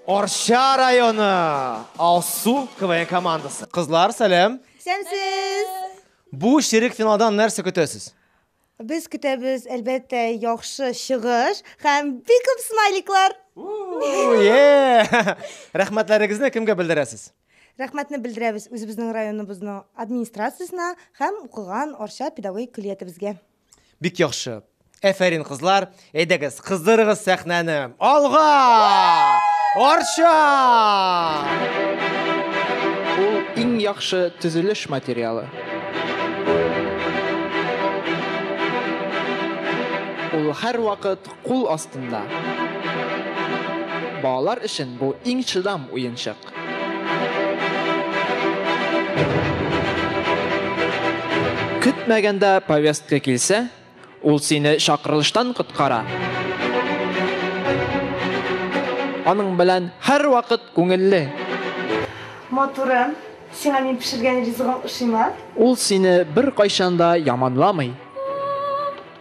Орша районы Алсу КВН командасы. Кызлар, сәлем. Сәмсез. Бу ширек финалдан нәрсә көтәсез? Без көтәбез, әлбәттә, яхшы чыгыш һәм бик күп смайликлар. Рәхмәтләрегезне кемгә белдерәсез? Рәхмәтне белдерәбез үзебезнең районыбызның администрациясенә һәм укыган Арча педагогик көллиятебезгә. Бик яхшы. Әфәрин, кызлар. Әйдәгез, кыздырыгыз сәхнәне. Алга! Арча! Ул иң яхшы төзелеш материалы. Ул һәрвакыт Кул астында. Балалар өчен бу иң чыдам уенчык. Көтмәгәндә повестка килсә, ул сине чакырылыштан коткара. Аның белән һәрвакыт күңелле. Матурым, сиңа мин пешергән ризыгым ошыймы? Ул сине беркайчан да яманламый.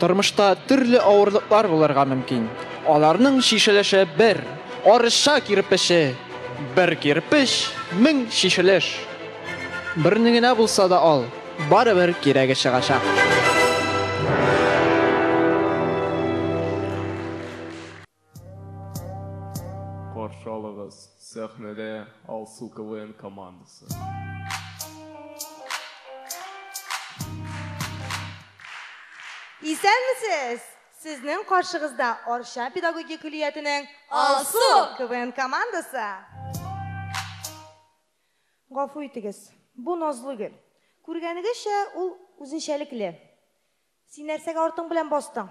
Тормышта төрле авырлыклар булырга мөмкин. Аларның чишелеше бер арча кирпече, бер кирпеч, мең чишелеш. Берне генә булса да ал, барыбер кирәге чыгачак. Каршы алыгыз, сәхнәдә Алсу КВН командасы. Исәнмесез! Сезнең каршыгызда Арча педагогия көллиятенең Алсу КВН командасы. Гафу итегез, бу Назлы гөл. Күргәнегезчә, ул үзенчәлекле. Син нәрсәгә артың белән бастың?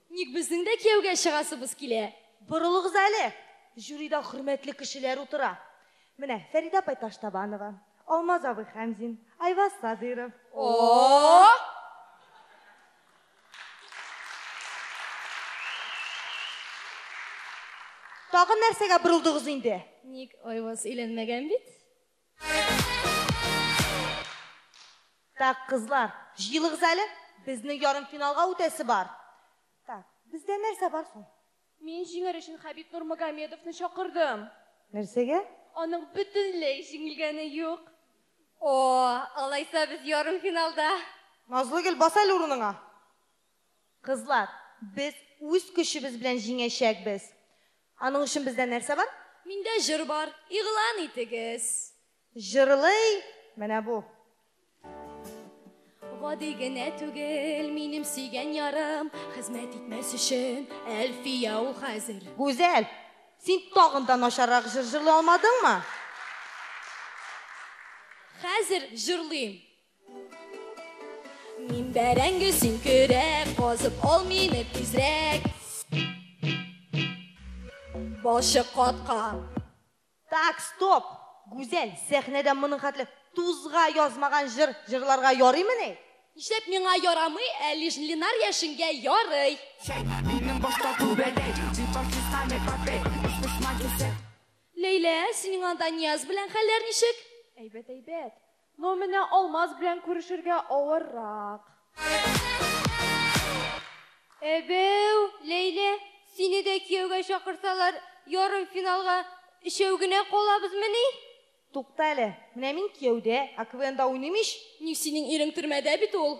Ник безнең дә кияүгә чыгасыбыз килә? Борылыгыз әле, жюрида хөрмәтле кешеләр утыра. Менә Фәридә апай Таштабанова, Алмаз абый Хәмзин, Айваз Садыйров. О-о-о! Тагын нәрсәгә борылдыгыз инде? Ник, Айваз өйләнмәгән бит. Так, кызлар, җыелыгыз әле, безнең ярым финалга үтәсе бар. Так, бездә нәрсә бар соң? Мин җиңәр өчен Хәбиб Нурмагомедовны чакырдым. Нәрсәгә? Аның бөтенләй җиңелгәне юк. О, алайса без ярым финалда. Назлыгөл, бас әле урыныңа. Кызлар, без үз көчебез белән җиңәчәкбез. Аның өчен бездә нәрсә бар? Миндә җыр бар, игълан итегез. Җырлый менә бу. Гади генә түгел, минем сөйгән ярым, Хезмәт итмәс өчен Әлфия ул хәзер. Гүзәл, син тагын да начаррак җыр җырлый алмадыңмы? Хәзер җырлыйм. Мин бәрәңге, син көрәк, казып ал мине тизрәк. Башы каткан. Так, стоп! Гүзәл, сәхнәдә моның хәтле тузга язмаган җыр җырларга ярыймыни? Нишләп миңа ярамый, ә лишь Ленар яшенгә ярый. Минем башта күбәләй, дипартиска не попей, очпышма дисә. Ләйлә, синең анда Нияз белән хәлләр ничек? Әйбәт, әйбәт. Ну менә Алмаз белән күрешергә авыррак. Әбәү, Ләйлә, сине дә кияүгә чакырсалар, ярымфиналга өчәү генә калабызмыни? Тукта әле, менә мин кияүдә, ә КВНда уйныйм ич! Ни, синең ирең төрмәдә бит ул.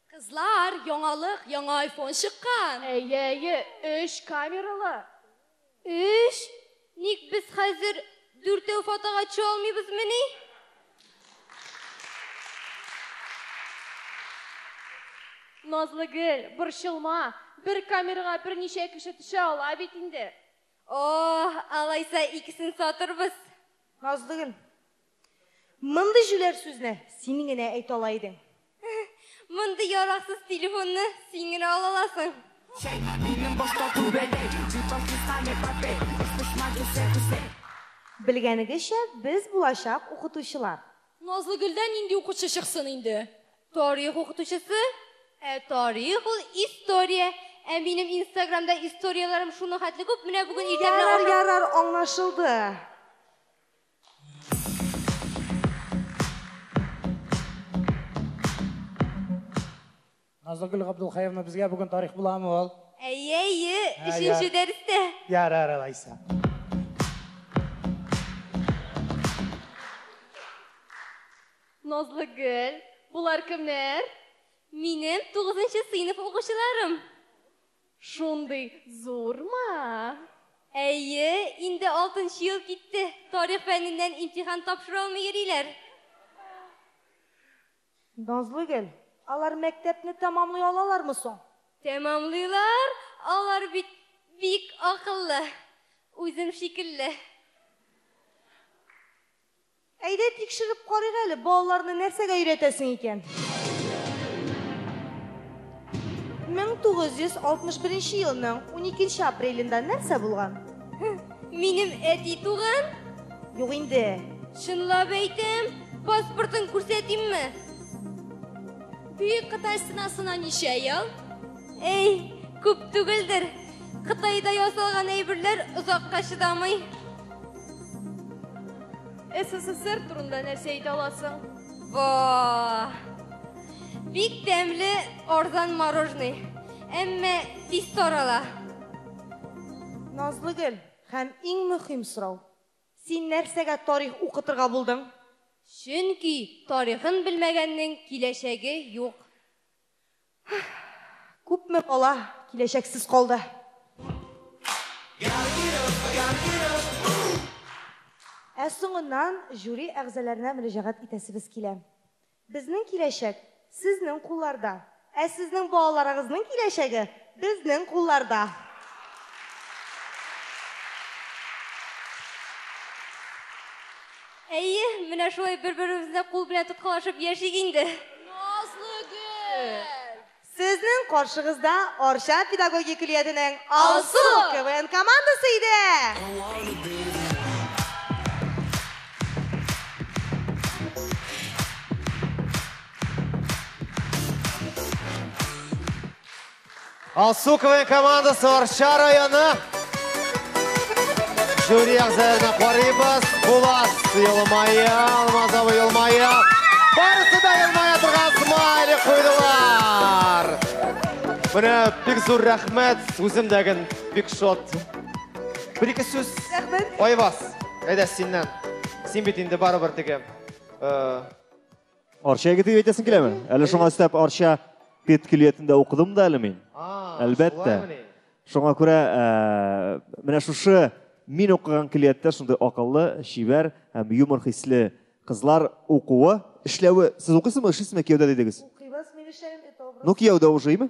Кызлар, яңалык, яңа айфон чыккан! Әйе, әйе, өч камералы! Өч? Ник без хәзер дүртәү фотога төшә алмыйбызмыни? Назлыгөл, борчылма, бер камерага берничә кеше төшә ала бит инде. О, алайса икесен сатырбыз. Назлыгөл, Мондый җүләр сүзне син генә әйтә ала идең. Мондый яраксыз телефонны син генә ала аласың. Белгәнегезчә, без булачак укытучылар. Назлыгөлдән нинди укучы чыксын инде? Тарих укытучысы? Ә тарих ул история. Ә минем инстаграмда историяләрем шуның хәтле күп, менә бүген иртә белән Ярар, ярар, аңлашылды. Назлыгөл Габдулхаевна безгә бүген тарих буламы ул? Әйе, әйе, өченче дәрестә. Ярар, алайса. Назлыгөл, булар кемнәр? Минем 9 сыйныф укучыларым. Шундый зурмы? Әйе, инде алтынчы ел китте, тарих фәненнән имтихан тапшыра алмый йөриләр. Назлыгөл, алар мәктәпне тәмамлый алалармы соң? Тәмамлыйлар, алар бит бик акыллы, үзем шикелле. Әйдә тикшереп карыйк әле, балаларны нәрсәгә өйрәтәсең икән? 1961 елның 12 апрелендә нәрсә булган? Минем әти туган? Юк инде. Чынлап әйтәм, паспортын күрсәтимме? Бөек Кытай стенасына ничә ел? Әй, күп түгелдер. Кытайда ясалган әйберләр озакка чыдамый. СССР турында нәрсә әйтә аласың? Ва! Бик тәмле арзан мороженый. Әмма тиз тарала. Назлыгөл, һәм иң мөһим сорау. Син нәрсәгә тарих укытырга булдың? Чөнки тарихын белмәгәннең киләчәге юк. Күпме бала киләчәксез калды? Ә соңыннан жюри әгъзаларына мөрәҗәгать итәсебез килә. Безнең киләчәк, сезнең кулларда. Ә сезнең балаларыгызның киләчәге, безнең кулларда. Әйе, менә шулай бер-беребезне кул белән тоткалашып яшик инде. Назлыгөл! Сезнең каршыгызда Арча педагогия көллиятенең Алсу КВН командасы иде! Алсу КВН командасы Арча районы. Жюри әгъзаларына карыйбыз. Булат елмая, Алмаз абый елмая. Барысы да елмая торган смайлик куйдылар. Менә бик зур рәхмәт, үзем дә ген бик шат. Бер ике сүз. Рәхмәт. Айваз, әйдә синнән. Син бит инде барыбер теге э, Арча егеті деп әйтәсең киләме? Әле шуңа өстәп Арча педкөллиятендә укыдым да әле мин. Әлбәттә. Шуңа күрә ә, менә шушы мин укыган көллияттә шундый акыллы, чибәр һәм юмор хисле кызлар укуы, эшләве. Сез укыйсызмы, эшлисезме кияүдә дидегез? Укыйбыз, мин эшләгән Ну, кияүдә ушыймы?